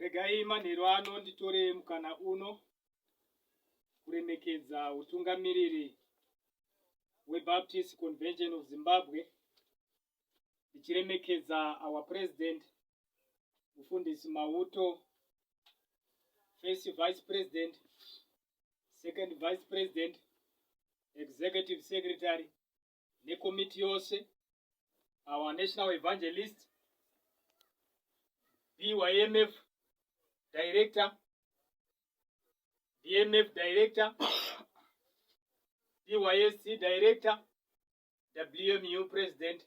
Regai manheru ano nditore mukana uno kuremekedza utungamiriri weBaptist Convention of Zimbabwe ndichiremekedza our president mufundisi mauto first vice president second vice president executive secretary nekomiti yose our national evangelist bymf director bmf director bysc director WMU president,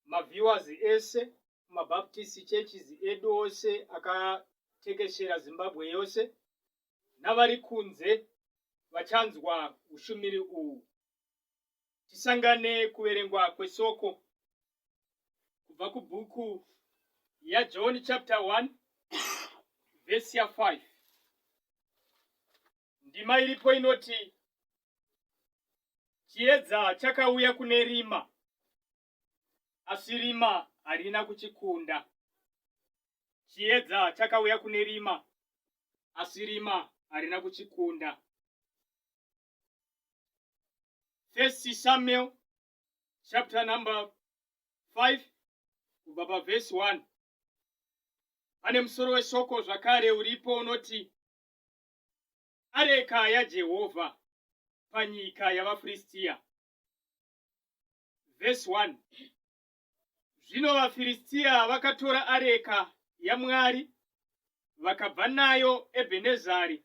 maviewers ese, mabaptist churches edu ose akatekeshera Zimbabwe yose, navari kunze vachanzwa ushumiri uwu. Tisangane kuverengwa kwesoko kubva kubhuku yaJohn chapter 1 verse ya 5. Ndima iripo inoti chiedza chakauya kune rima asi rima harina kuchikunda. Chiedza chakauya kune rima asi rima harina kuchikunda. First Samuel chapter number 5 kubva pavhesi 1 pane musoro weshoko zvakare uripo unoti areka yaJehovha panyika yavaFiristia. Vhesi 1 Zvino vaFiristia vakatora areka yaMwari vakabva nayo Ebhenezari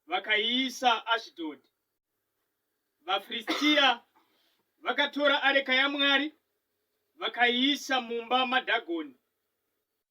vakaiisa Ashidhodhi. VaFiristia vakatora areka yaMwari vakaiisa mumba maDhagoni.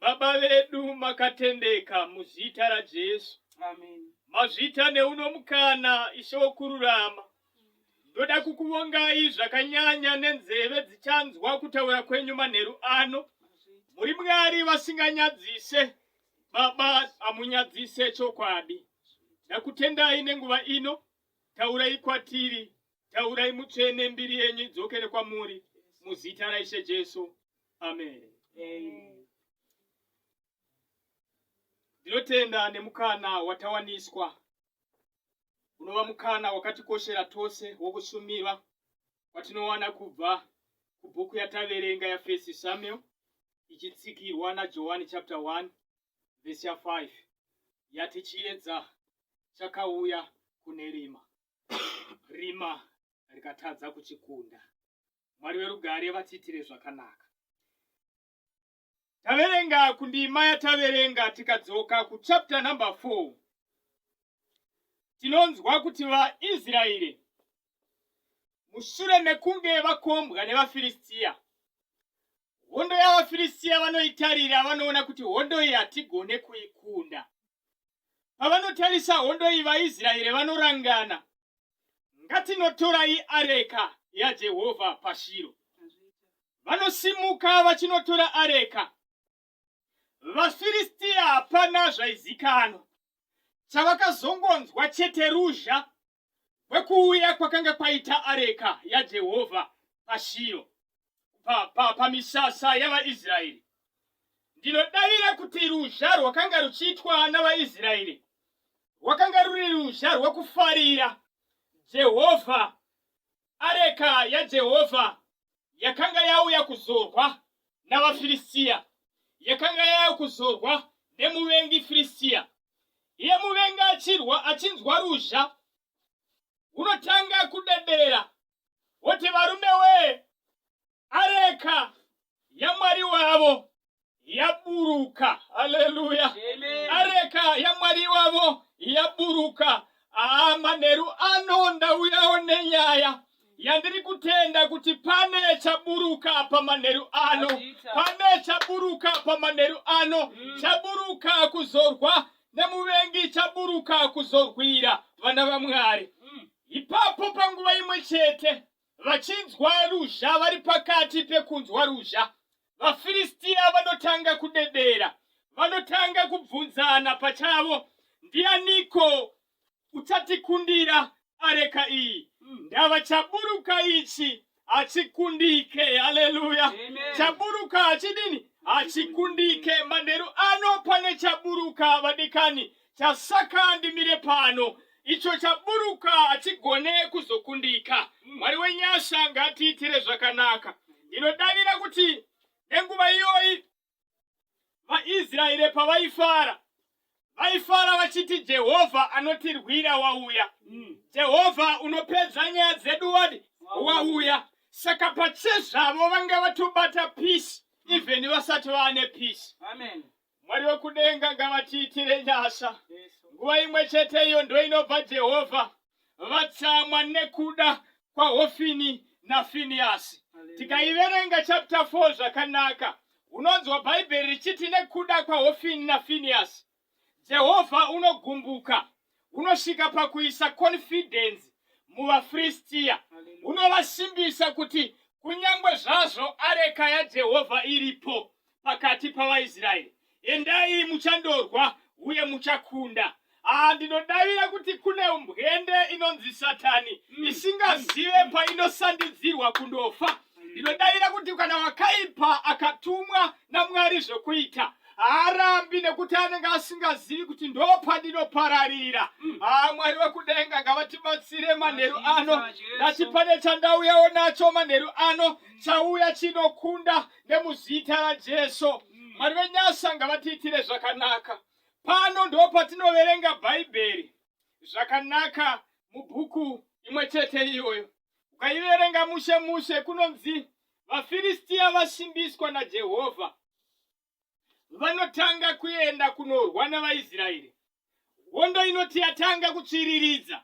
Baba vedu makatendeka muzita raJesu. Amen. Mazvita neuno mukana ishe wokururama. Ndoda kukuvongai zvakanyanya nenzeve dzichanzwa kutaura kwenyu manheru ano. Muri Mwari vasinganyadzise. Baba amunyadzise chokwadi. Ndakutendai nenguva ino. Taurai kwatiri Taurai mutsvene mbiri yenyu idzokere kwamuri muzita raishe Jesu. Amen. Ndinotenda nemukana watawaniswa unova mukana wakatikoshera tose wokushumira kwatinowana kubva kubhuku yataverenga yafirst Samuel ichitsikirwa naJohani chapter 1 verse 5 yati chiedza chakauya kune rima. rima rikatadza kuchikunda mwari verugare vatiitire zvakanaka taverenga kundima yataverenga tikadzoka kuchapta number 4 tinonzwa kuti vaisraeri mushure mekunge vakombwa nevafiristiya Hondo yavaFiristia vanoitarira vanoona kuti hondo iyi hatigone kuikunda. Pavanotarisa hondo iyi vaIsraeri vanorangana, ngatinotorai areka yaJehovha paShiro. Vanosimuka vachinotora areka. VaFiristia hapana zvaizikanwa. Chavakazongonzwa chete ruzha kwekuuya kwakanga kwaita areka yaJehovha paShiro pamisasa pa, pa yavaIsraeri. Ndinodavira kuti ruzha rwakanga ruchiitwa navaIsraeri rwakanga ruri ruzha rwekufarira Jehovha areka yaJehovha yakanga yauya kuzorwa navaFirisiya, yakanga yauya kuzorwa nemuvengi Firisiya. Iye muvengi achirwa achinzwa ruzha, unotanga kudedera woti, Varume wee, areka yamwari wavo yaburuka haleluya areka yamwari wavo yaburuka aa manheru ano ndauyawo nenyaya yandiri kutenda kuti pane chaburuka pamanheru ano pane chaburuka pamanheru ano mm. chaburuka kuzorwa nemuvengi chaburuka kuzorwira vana vamwari mm. ipapo panguva imwe chete Vachinzwa ruzha vari pakati pekunzwa ruzha, vaFiristia vanotanga kudedera. Vanotanga kubvunzana pachavo, Ndianiko uchatikundira areka iyi? Hmm. Ndava chaburuka ichi hachikundike. Haleluya! Chaburuka hachidini? Hachikundike. Manheru ano pane chaburuka, vadikani. chasaka ndimire pano icho chaburuka hachigone kuzokundika mwari wenyasha ngatiitire zvakanaka ndinodavira kuti nenguva iyoyi vaisraeri pavaifara vaifara vachiti jehovha anotirwira wauya mm. jehovha unopedza nyaya dzedu wadi wauya saka pachezvavo vanga vatobata peace even vasati vaane peace Mwari wekudenga ngavatiitire nyasha. Nguva imwe chete iyo ndoinobva Jehovha vatsamwa nekuda kwaHofini naFiniyasi. Tikaiverenga chapter 4 zvakanaka, unonzwa Bhaibheri richiti nekuda kwaHofini naFiniyasi Jehovha unogumbuka. hunosvika pakuisa konfidhenzi muvaFiristiya, hunovasimbisa kuti kunyange zvazvo areka yaJehovha iripo pakati pavaIsraeri, endai muchandorwa uye muchakunda. Haa, ndinodavira kuti kune mbwende inonzi Satani isingazive painosandudzirwa kundofa Ndinodavira kuti kana wakaipa akatumwa naMwari zvekuita haarambi nekuti anenge asingazivi kuti ndopandinopararira. Mm. Ah, Mwari wekudenga ngavatibatsire manheru ano. Ndati pane chandauyawo nacho manheru ano mm. chauya chinokunda nemuzita raJesu. Mm. Mwari venyasha ngavatiitire zvakanaka. Pano ndopatinoverenga Bhaibheri zvakanaka mubhuku imwe chete iyoyo. ukaiverenga mushe mushe kunonzi vafiristiya vasimbiswa najehovha vanotanga kuenda kunorwa nevaisraeri hondo inoti yatanga kutsviriridza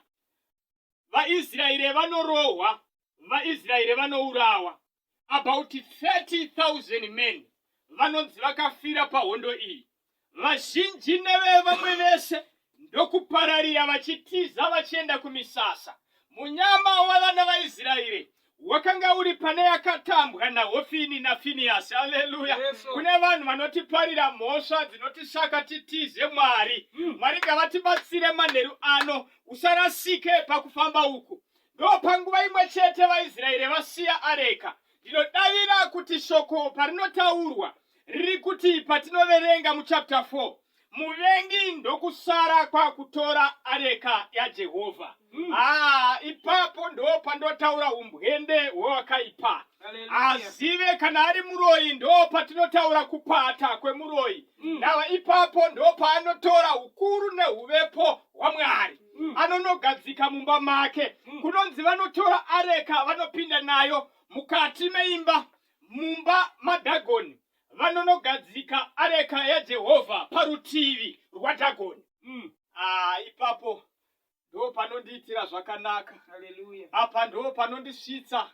vaisraeri vanorohwa vaisraeri vanourawa about 30,000 men vanonzi vakafira pahondo iyi vazhinji nevevamwe vese ndokupararira vachitiza vachienda kumisasa munyama wavana vaisraeri wakanga uri pane yakatambwa nahofini nafiniyasi aleluya kune vanhu vanotiparira mhosva dzinotisaka titize mwari hmm. mwari ngavatibatsire manheru ano usarasike pakufamba uku Ndopanguva imwe chete vaIsraeri vasiya areka. Ndinodavira kuti shoko parinotaurwa riri kuti patinoverenga muchapter 4 muvengi ndokusara kwakutora areka yajehovha mm. ah, ipapo ndo pandotaura umbwende hwewakaipa azive kana ari muroyi ndo patinotaura kupata kwemuroyi mm. nava ipapo ndo paanotora ukuru neuvepo hwamwari mm. anonogadzika mumba make mm. kunonzi vanotora areka vanopinda nayo mukati meimba mumba madhagoni vanonogadzika areka yajehovha parutivi rwadhagoni mm. ah, ipapo ndo panondiitira zvakanaka apa ndo panondisvitsa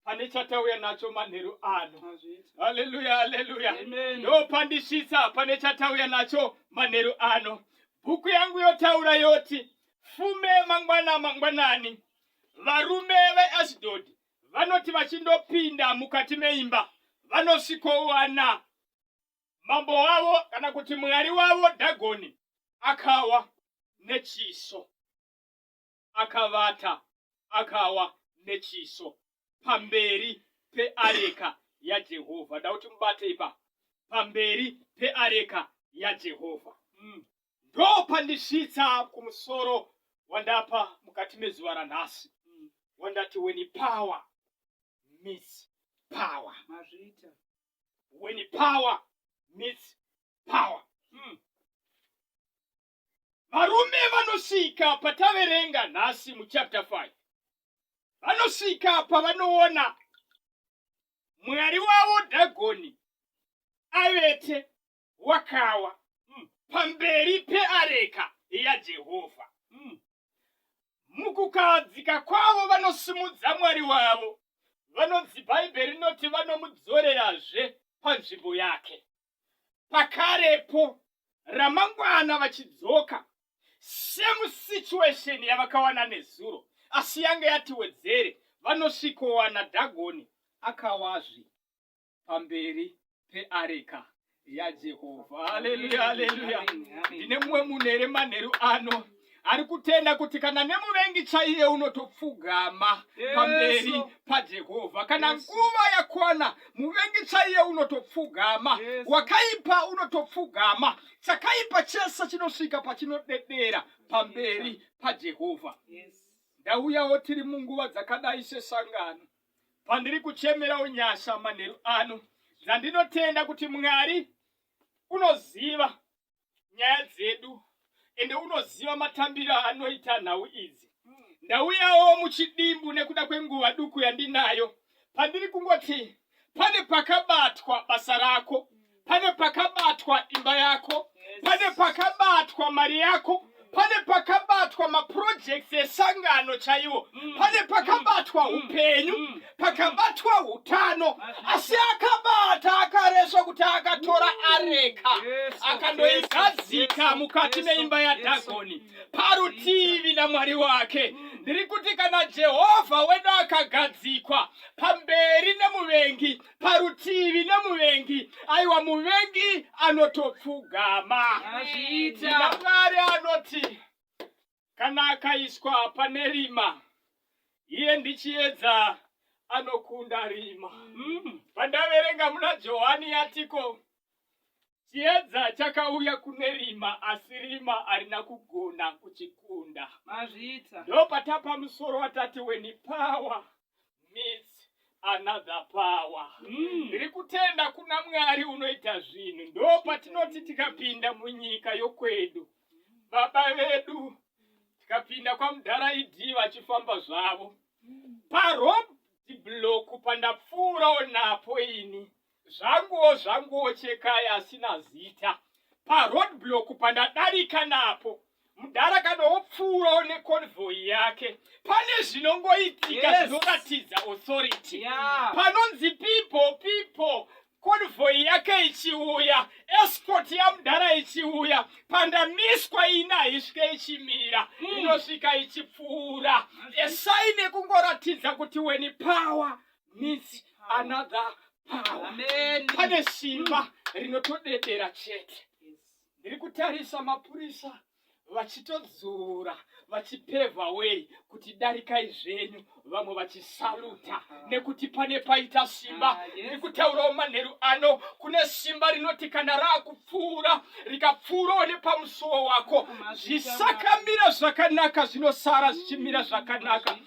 pane chatauya nacho manheru ano haleluya haleluya ndopandisvitsa pane chatauya nacho manheru ano bhuku yangu yotaura yoti fume mangwana mangwanani varume veashdod vanoti vachindopinda mukati meimba vanosvikowana mambo wavo kana kuti mwari wavo dhagoni akawa nechiso akavata akawa nechiso pamberi peareka yaJehovha. Ndauti mubate ipa pamberi peareka yaJehovha. Mm. Ndopandisvitsa kumusoro wandapa mukati mezuva ranhasi. Mm. Wandati when power meets power. Mazvita. When power meets power. Mm. Varume vanosvika pataverenga nhasi muchapter 5 vanosvika pavanoona mwari wavo dhagoni avete wakawa mm. pamberi peareka yajehovha mm. mukukahadzika kwavo vanosimudza mwari wavo vanonzi bhaibheri rinoti vanomudzorerazve panzvimbo yake pakarepo ramangwana vachidzoka same situation yavakawana nezuro asi yange yati wedzere vanosvikowana dhagoni akawazvi pamberi peareka yajehovha haleluya haleluya ndine mumwe munhu here manheru ano ari kutenda kuti kana nemuvengi chaiye unotopfugama pamberi pajehovha kana nguva yakwana muvengi chaiye unotopfugama wakaipa unotopfugama chakaipa chese chinosvika pachinodedera pamberi pajehovha ndauyawo tiri munguva dzakadai sesangano pandiri kuchemerawo nyasha manheru ano dzandinotenda kuti mwari unoziva nyaya dzedu ende unoziva matambiro anoita nhau idzi ndauyawo muchidimbu nekuda kwenguva duku yandinayo pandiri kungoti pane pakabatwa basa rako pane pakabatwa imba yako pane pakabatwa mari yako pane pakabatwa mapurojekti esangano chaiwo mm. pane pakabatwa mm. upenyu mm. pakabatwa utano asi akabata akaresva kuti akatora areka akandoigadzika mukati meimba yadhagoni parutivi namwari wake ndiri kuti kana jehovha wedu akagadzikwa pamberi nemuvengi parutivi nemuvengi aiwa muvengi anotopfugama ina mwari anoti kana akaiswa pane rima iye ndichiedza anokunda rima mm. pandaverenga muna johani yatiko Chiedza chakauya kune rima asi rima arina kugona kuchikunda. Mazvita. Ndopatapa musoro watati weni power meets another power. Mm. Ndiri kutenda kuna Mwari unoita zvinhu. Ndopatinoti tikapinda munyika yokwedu. Baba vedu tikapinda kwamudhara idhi vachifamba zvavo. Paroad block pandapfuura onapo ini. Zvanguwo zvanguwo chekai asina zita. Pa road block pandadarika napo. Mudhara kana wopfuurawo neconvoy yake. Pane zvinongoitika Yes. zvinoratidza authority. Yeah. Panonzi people people. Convoy yake ichiuya, escort yamudhara ichiuya, pandamiswa ina isvike ichimira, inosvika ichipfuura. Esai nekungoratidza kuti weni power needs another power Amen. pane simba rinotodedera chete ndiri kutarisa mapurisa vachitodzura vachipevha wei kuti darikai zvenyu vamwe vachisaluta nekuti pane paita simba Ah, yes. ndiri kutaurawo manheru ano kune simba rinoti kana raaku pfuura rikapfuurawo nepamusuwo wako zvisakamira zvakanaka zvinosara zvichimira zvakanaka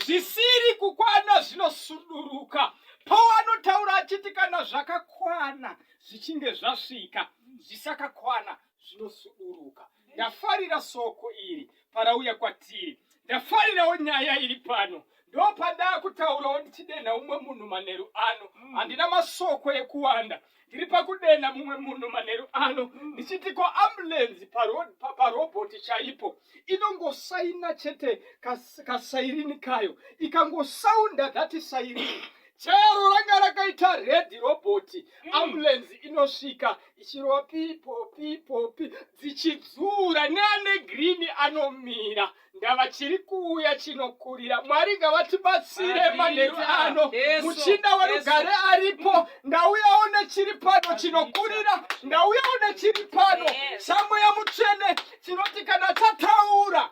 zvisiri kukwana zvinosuduruka pawo anotaura achiti kana zvakakwana zvichinge zvasvika zvisakakwana zvinosuduruka Ndafarira soko iri parauya kwatiri. Ndafarirawo nyaya iri pano. Ndopandaa kutaurawo ndichidenha umwe munhu manheru ano. Mm. Handina masoko ekuwanda. Ndiri pakudenha mumwe munhu manheru ano mm. ndichiti ko ambulenzi parobhoti chaipo inongosaina chete kasairini kayo ikangosaunda dhati sairini chero ranga rakaita redhi robhoti mm. ambulenzi inosvika ichirova pipo pipo pi dzichidzura neane girini anomira ndava chiri kuuya chinokurira mwari ngavatibatsire manheru ano muchinda werugare aripo ndauyawo nechiri pano chinokurira ndauyawo nechiri pano samweya mutsvene tinoti kana tataura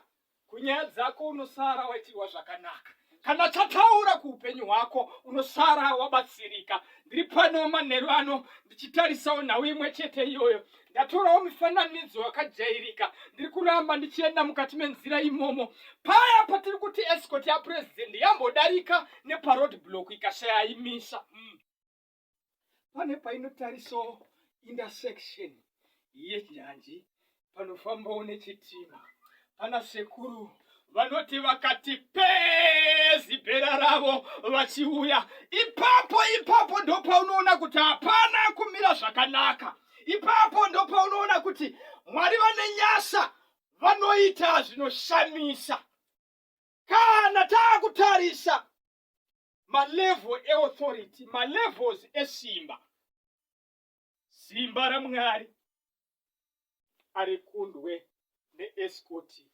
Kunyaya dzako unosara waitirwa zvakanaka. Kana tataura kuupenyu hwako unosara wabatsirika. Ndiri pano manheru ano ndichitarisawo nhau imwe chete iyoyo. Ndatorawo mifananidzo yakajairika. Ndiri kuramba ndichienda mukati menzira imomo. Paya patiri kuti escort yapresident yambodarika neparoad block ikashaya imisa. Mm. pane painotariso intersection yechanji panofambawo nechitima pana sekuru vanoti vakati pezi bhera ravo vachiuya ipapo ipapo ndopaunoona kuti hapana kumira zvakanaka ipapo ndopaunoona kuti mwari vane nyasa vanoita zvinoshamisa kana taakutarisa malevel eauthority malevels esimba simba ramwari ari kundwe neeskoti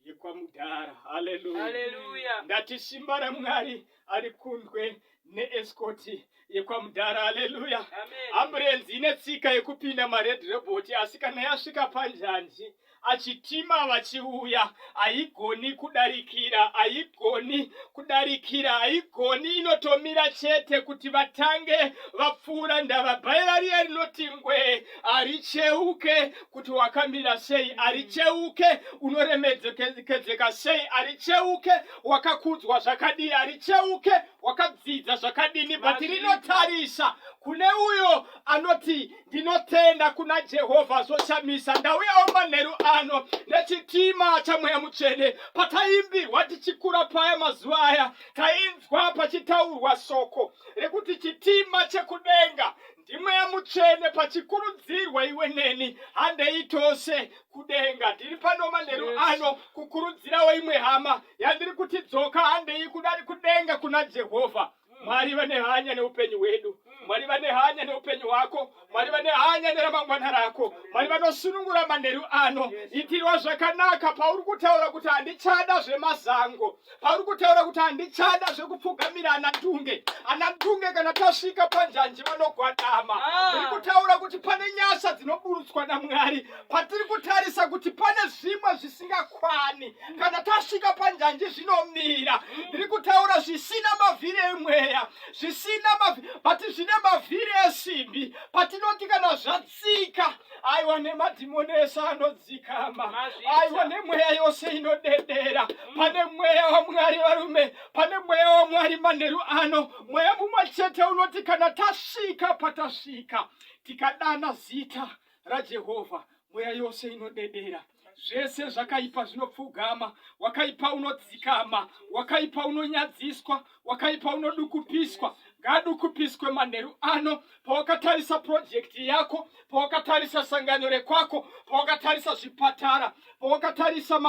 yekwamudhara haleluya ndati simba ramwari ari kundwe neeskoti yekwamudhara haleluya amburenzi ine tsika yekupinda mared reboti asi kana yasvika panjanji achitima vachiuya haigoni kudarikira haigoni kudarikira haigoni inotomira chete kuti vatange vapfuura ndava bhaira riya rinoti ngwee haricheuke kuti wakamira sei haricheuke unoremedzekedzeka sei haricheuke wakakudzwa zvakadii haricheuke wakabvisa zvakadini but rinotarisa kune uyo anoti ndinotenda kuna jehovha zvoshamisa ndauyawo manheru ano nechitima chamweya mutsvene pataimbirwa tichikura paya mazuva aya tainzwa pachitaurwa soko rekuti chitima chekudenga ndimweya mutsvene pachikurudzirwa iwe neni handei tose kudenga ndiri pano manheru yes. ano kukurudzirawo imwe hama yandiri kuti dzoka handei kudari kudenga kuna jehovha Mwari vane hanya neupenyu hwedu. Mwari vane hanya neupenyu hwako. Mwari vane hanya neramangwana rako. Mwari vanosunungura manheru ano. Itirwa zvakanaka pauri kutaura kuti handichada zvemazango, pauri kutaura kuti handichada zvekupfugamira ana ndunge. Ana ndunge kana tasvika panjanji vanogwadama. Ndiri kutaura kuti pane nyasha dzinoburutswa naMwari. patiri kutarisa kuti pane zvimwe zvisingakwani kana tasvika panjanji zvinomira ndiri kutaura zvisina mavhiri emweya zvisina mavhiri bati zvine mavhiri esimbi patinoti kana zvatsika aiwa nemadhimoni ese anodzikama aiwa nemweya yose inodedera mm. pane mweya wamwari varume pane mweya wamwari manheru ano mweya mumwe chete unoti kana tasvika patasvika tikadana zita raJehovha, mweya yose inodedera, zvese zvakaipa zvinopfugama, wakaipa unodzikama, wakaipa unonyadziswa, wakaipa unodukupiswa ngadukupiswe manheru ano pawakatarisa purojekiti yako pawakatarisa sangano rekwako pawakatarisa zvipatara pawakatarisa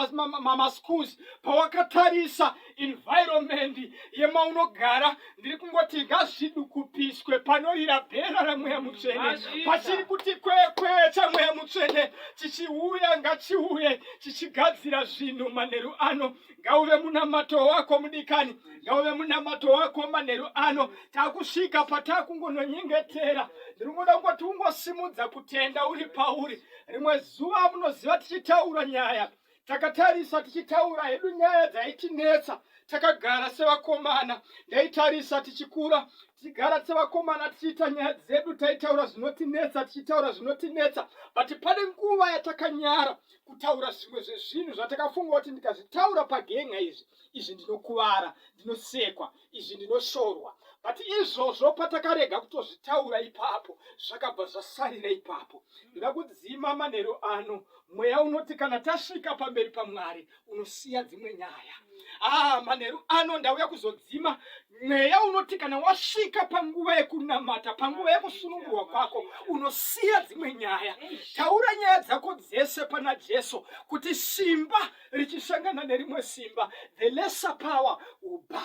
maschools pawakatarisa environment yemaunogara ndiri kungoti ngazvidukupiswe panorira bhera ramweya mutsvene pachiri kuti kwekwe chamweya mutsvene chichiuya ngachiuye chichigadzira zvinhu manheru ano ngauve munamato wako mudikani ngauve munamato wako manheru ano takusvika patakungononyengetera ndiri kungoda kungoti ungosimudza kutenda uri pauri rimwe zuva munoziva tichitaura nyaya takatarisa tichitaura hedu nyaya dzaitinetsa takagara sevakomana ndaitarisa tichikura tichigara sevakomana tichiita nyaya dzedu taitaura zvinotinetsa tichitaura zvinotinetsa but pane nguva yatakanyara kutaura zvimwe zvezvinhu zvatakafunga kuti ndikazvitaura pagenga izvi izvi ndinokuvara ndinosekwa izvi ndinoshorwa but izvozvo patakarega kutozvitaura ipapo zvakabva zvasarira ipapo ndoda kudzima manheru ano mweya unoti kana tasvika pamberi pamwari unosiya dzimwe nyaya ah manheru ano ndauya kuzodzima mweya unoti kana wasvika panguva yekunamata panguva yekusunungurwa kwako unosiya dzimwe nyaya taura nyaya dzako dzese pana jesu kuti simba hey. richisangana nerimwe simba the lesser power will bow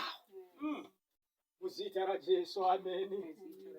mm. muzita rajesu ameni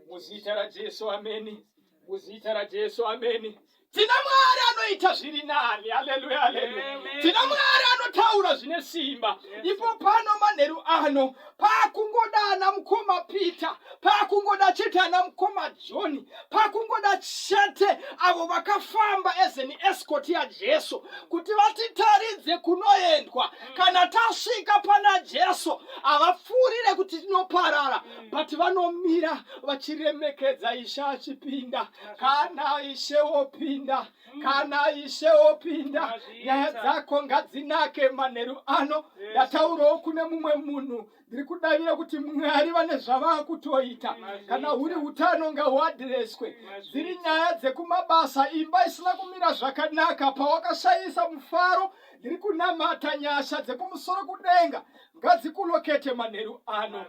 muzita rajesu ameni muzita rajesu ameni tina mwari anoita zviri nani haleluya haleluya tina mwari anotaura zvine simba ipo pano manheru ano pakungoda ana mukoma peter pakungoda chete ana mukoma john pakungoda chete avo vakafamba as an escort yajesu kuti vatitaridze kunoendwa mm. kana tasvika pana jesu havapfuurire kuti tinoparara mm. but vanomira vachiremekedza ishe achipinda kana ishe wopinda mm. kana ishe opinda nyaya dzako ngadzinake manheru ano ndataurawo kune mumwe munhu ndiri kudavira kuti mwari vane zvavakutoita kana huri utano ngahuadhireswe dziri nyaya dzekumabasa imba isina kumira zvakanaka pawakashayisa mufaro ndiri kunamata nyasha dzekumusoro kudenga ngadzikulokete manheru ano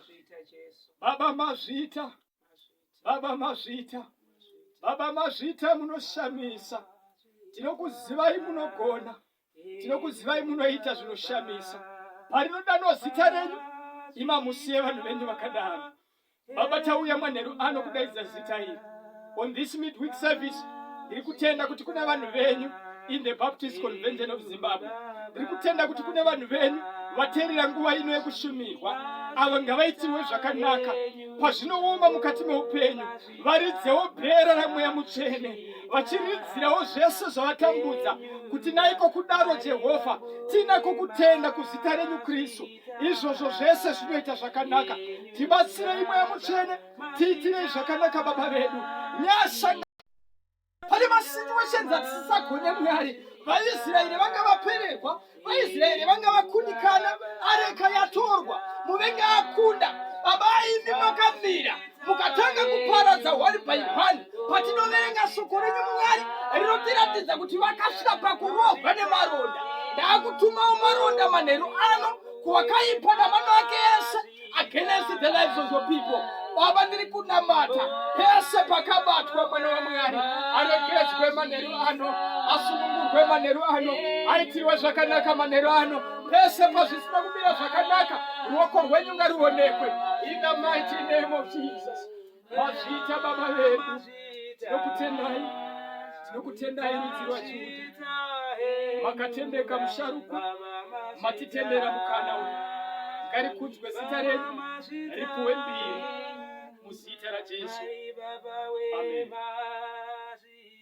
baba mazvita baba mazvita baba mazvita munoshamisa tinokuzivai munogona tinokuzivai munoita zvinoshamisa parinodanwa zita renyu ima musiye vanhu venyu vakadaro baba tauya manheru ano kudaidza zita iri on this midweek service ndiri kutenda kuti kune vanhu venyu in the baptist convention of zimbabwe ndiri kutenda kuti kune vanhu venyu vateerera nguva ino yekushumirwa avo ngavaitirwe zvakanaka pazvinooma mukati meupenyu varidzewo bhera ramweya mutsvene vachiridzirawo zvese zvavatambudza kuti naiko kudaro jehovha tiinako kutenda kuzita renyu kristu izvozvo zvese zvinoita zvakanaka tibatsirei mweya mutsvene tiitirei zvakanaka baba vedu nyasha pane masituations atisisagone mwari vaisraeri vanga vapererwa vaisraeri vanga vakundikana areka yatorwa muvengi akunda baba aimi makamira mukatanga kuparadza one by one patinoverenga shoko renyu mwari rinotiratidza kuti vakasvika pakurohwa nemaronda ndaakutumawo maronda manheru ano kuwakaipa namano ake ese against the lives of your people baba ndiri kunamata pese pakabatwa mwana wamwari aregeredzwe manheru ano asungungurwe manheru ano aitirwe zvakanaka manheru ano pese pazvisina kumira zvakanaka ruoko rwenyu ngaruonekwe in the mighty name of jesus Mazvita baba vedu, tinokutendai, tinokutendai rudzi rwaJudha, makatendeka musharukwa, matitendera mukana uyu, ngarikudzwe zita redu, ripuwe mbiri muzita raJesu. Amen.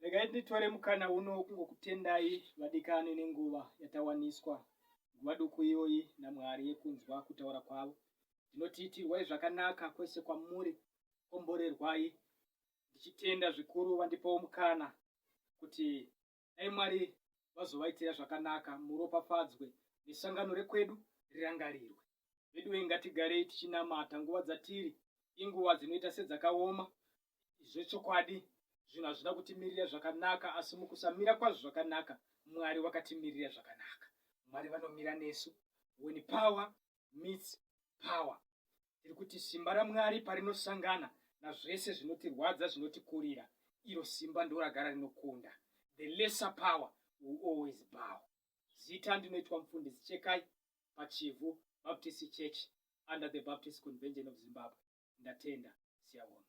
regai nditore mukana uno kungokutendai vadikani nenguva yatawaniswa nguva duku iyoyi namwari yekunzwa kutaura kwavo ndinoti itirwai zvakanaka kwese kwamuri komborerwai ndichitenda zvikuru vandipawo mukana kuti dai mwari vazovaitira zvakanaka muropafadzwe nesangano rekwedu rirangarirwe veduwe ngatigarei tichinamata nguva dzatiri inguva dzinoita sedzakaoma zvechokwadi zvinhu hazvina kutimirira zvakanaka asi mukusamira kwazvo zvakanaka mwari wakatimirira zvakanaka mwari vanomira nesu when power meets power. Tiri kuti simba raMwari parinosangana nazvese zvinotirwadza zvinotikurira, iro simba ndoragara rinokunda. The lesser power will always bow. Zita ndinoitwa mufundisi Chekai paChivhu Baptist Church under the Baptist Convention of Zimbabwe. Ndatenda, siyabonga.